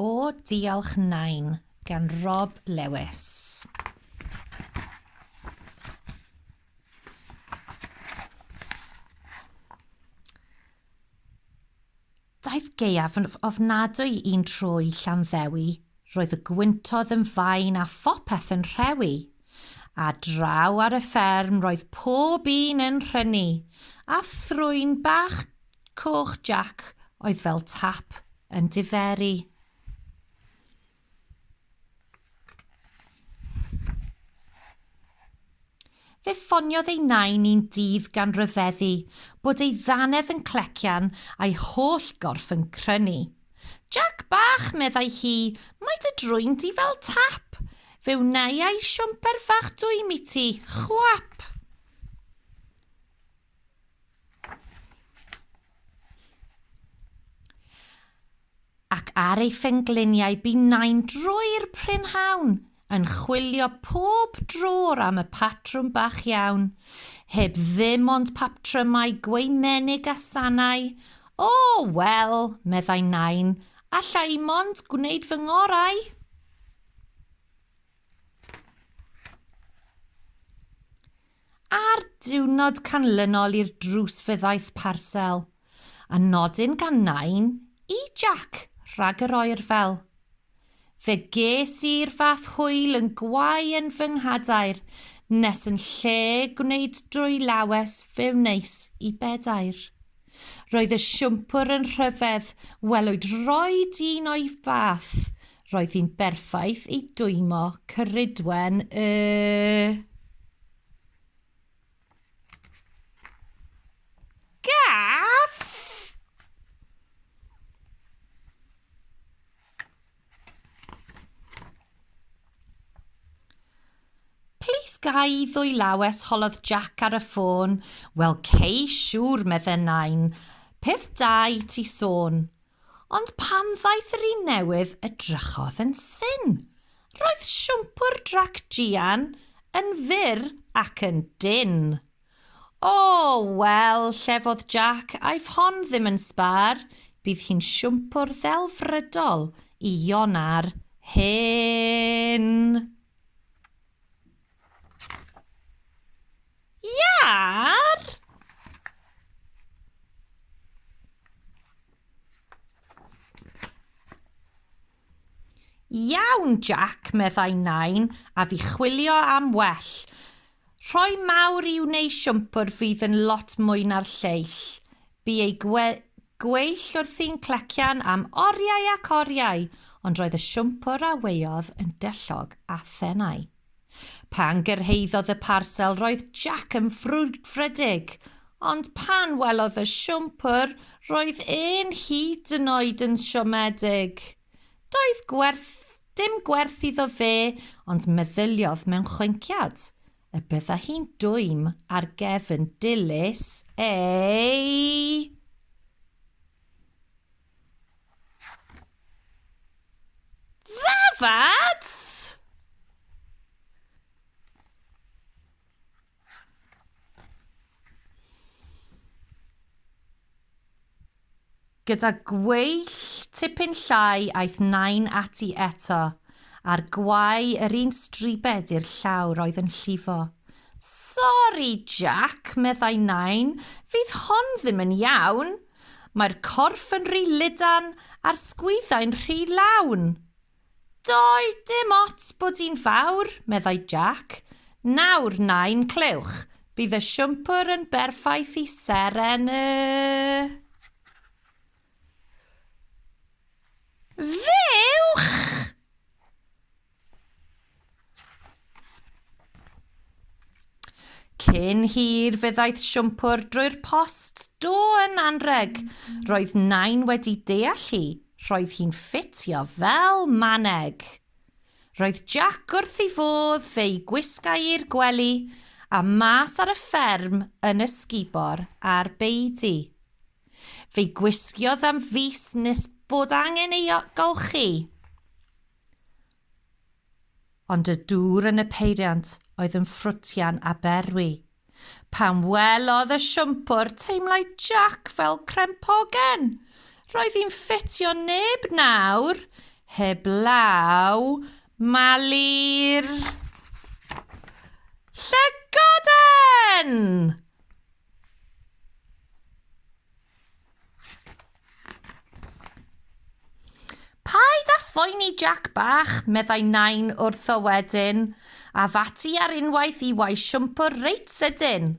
O, diolch Nain, gan Rob Lewis. Daeth gaeaf yn ofnadwy i'n trwy Llanddewi, roedd y gwyntodd yn fain a phopeth yn rhewi. A draw ar y fferm roedd pob un yn rhynnu, a thrwyn bach Coch Jac oedd fel tap yn diferu. Fe ffoniodd ei nain un dydd gan ryfeddu bod ei ddannedd yn clecian a'i holl gorff yn crynu. Jac bach, meddai hi, mae dy drwyn di fel tap. Fe wnaiai siwmper fach dwym i ti. Chwap! Ac ar ei phengliniau bu nain drwy'r prynhawn, yn chwilio pob drwr am y patrwm bach iawn, heb ddim ond paptrymau gwaemenig a sanau. O, wel, meddai nain, alla i mond gwneud fy ngorau. Ar diwrnod canlynol i'r drws fe ddaeth parsel, a nodyn gan nain i Jac rhag yr oerfel. Fe ges i'r fath hwyl yn gwau yn fy nghadair nes yn lle gwneud drwy lawes fe wneis i bedair. Roedd y siwmpwr yn rhyfedd, welwyd roed un o'i fath. Roedd hi'n berffaith i dwymo Ceridwen y... Gath! Please gai ddwylawes holodd Jack ar y ffôn. Wel cei siŵr medden nain. Peth da i ti sôn. Ond pam ddaeth yr un newydd y drychodd yn syn. Roedd siwmpwr drac Gian yn fyr ac yn dyn. O! Wel, llefodd Jac, aiff hon ddim yn sbâr, bydd hi'n siwmpwr ddelfrydol i Iona'r Hen! Iâr! Iawn, Jack, meddai Nain, a fi chwilio am well. Rhoi mawr i'w neu siwmpwr fydd yn lot mwy na'r lleill. Bu ei gwe gweill wrthi'n clecian am oriau ac oriau, ond roedd y siwmpwr a weodd yn dyllog a thenau. Pan gyrhaeddodd y parsel roedd Jac yn frwdfrydig, ond pan welodd y siwmpwr roedd e'n hyd yn oed yn siomedig. Doedd gwerth, dim gwerth iddo fe, ond meddyliodd mewn chwinciad y bydda hi'n dwym ar gefn dilys ei... Gyda gweill tipyn llai aeth Nain ati eto, a'r gwae yr un stribed i'r llawr oedd yn llifo. Sori, Jac, meddai Nain, fydd hon ddim yn iawn. Mae'r corff yn rhy lydan a'r sgwyddau'n rhy lawn. Doi, dim ots bod hi'n fawr, meddai Jac. Nawr, nain, clywch, bydd y siwmpwr yn berffaith i seren y... Fuwch! Cyn hir fe ddaeth siwmpwr drwy'r post, do yn anrheg. Roedd Nain wedi deall hi, roedd hi'n ffitio fel maneg. Roedd Jac wrth ei fodd fe'i gwisgai i'r gwely a mas ar y fferm yn ysgubor ar beudy. Fe'i gwisgiodd am fis nes bod angen ei golchi. Ond y dŵr yn y peiriant oedd yn ffrwtian a berwi. Pan welodd y siwmpwr, teimlai Jac fel crempoggen. Roedd hi'n ffitio neb nawr, heblaw Mali'r Llygoden! Paid â phoeni Jac bach, meddai Nain wrtho wedyn, a fati ar unwaith i wau siwmpwr reit sydyn.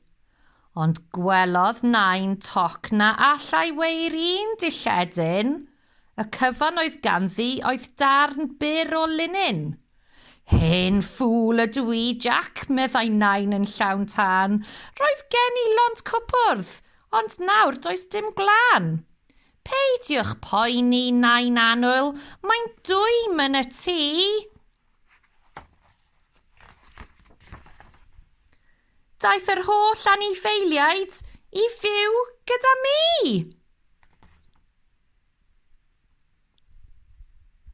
Ond gwelodd Nain toc na allai weu'r un dilledyn. Y cyfan oedd ganddi oedd darn byr o linyn. Hen ffŵl ydw i, Jac, meddai Nain yn llawn tân, roedd gen i lond cwpwrdd, ond nawr does dim gwlân. Peidiwch poeni, Nain Annwyl, mae'n dwym yn y tŷ. Daeth yr holl anifeiliaid i fyw gyda mi!